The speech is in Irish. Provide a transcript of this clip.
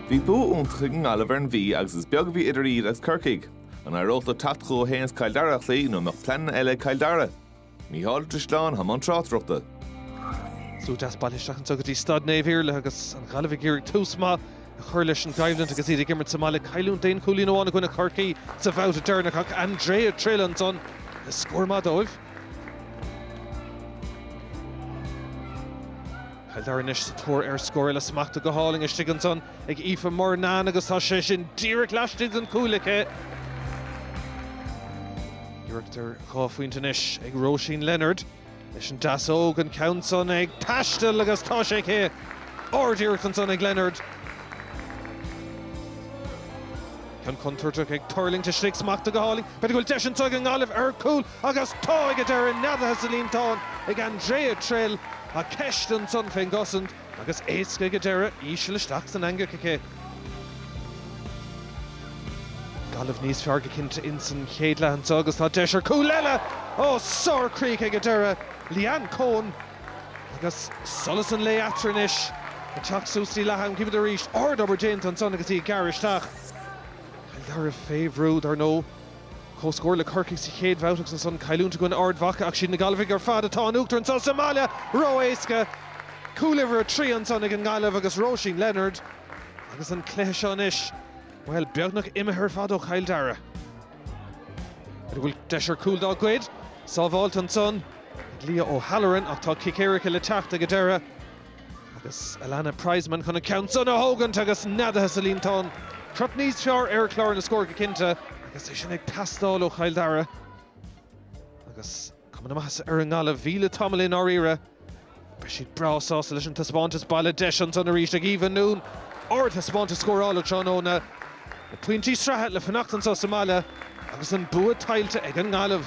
Bhí bua iontach ag an nGaillimh ar an Mhí agus is beag a bhí idir iad is Corcaigh. An éireodh leo teacht chucu féin is Cill Dara a chloí nó an mbeadh pleananna eile ag Cill Dara? Micheál Ó Drisleáin, i mbun tráchtaireachta. Slua deas bailithe isteach anso go dtí Staid Naomh Iarlaith agus an Ghaillimh ag iarraidh tús maith a chur leis an gcoimhlint agus iad ag imirt sa mbaile, cailliúint d'aon chúilín amháin i gcoinne Chorcaí sa bhabhta deireanach ach Andrea Trill ansan le scór maith dóibh. Cill Dara anois sa tóir ar scór eile smachta go hálainn istigh ansan ag Aoife Murnane agus tá sé sin díreach laistigh den chuaille aici. Iarracht ar dhá phointe anois ag Róisín Leonard leis an deasóg, an ceann san ag taisteal agus tá sé aici! Ardiarracht ansan ag Leonard. Ceann contúirteach ag tuirlingt istigh smachta go hálainn. B'fhéidir go bhfuil deis anso ag an nGaillimh ar chúl. Agus tá ag an deireadh neadaithe sa líontán ag Andrea Trill, tá ceist ansan fén gcosaint agus éasca ag an deireadh íseal isteach san eangach aici. Gaillimh níos fearr go cinnte insan chéad leath anso agus tá deis ar chúl eile ó sárchríoch ag an deireadh, Leanne Coen, agus solas an lae eatarthu anois ag teacht suas go dtí leath am cibé arís, ardobair déanta ansan agus í ag gearradh isteach. Cill Dara fé bhrú, ar ndóigh. Comhscór le Corcaigh sa chéad bhabhta agus ansan cailliúint i gcoinne Ard Mhaca ach is iad na Gaillmhigh ar fad atá in uachtar anso sa mbaile! Ró-éasca! Cúl uimhir a trí ansan ag an nGaillimh agus Róisín Leonard agus an cluiche seo anois, bhuel, beagnach imithe ar fad ó Chill Dara. B'fhéidir go bhfuil deis ar chúl dá gcuid? Sábháilte ansan ag Leah O'Halloran ach tá cic éirice le teacht ag an deireadh. Agus Alannah Prizeman chun an ceann san a thógaint agus neadaithe sa líontán. Crot níos fearr ar chlár na scór go cinnte, agus é sin ag teastáil ó Chill Dara. Agus cuma na maitheasa ar an nGaillimh, bhí le tamall i ndáiríre. Beidh siad breá sásta leis an taispeántas baile. Deis ansan arís ag Eva Noone ardthaispeántas scórála tráthnóna, na pointí sraithe le fanacht anso sa mbaile agus an bua tuillte ag an nGaillimh.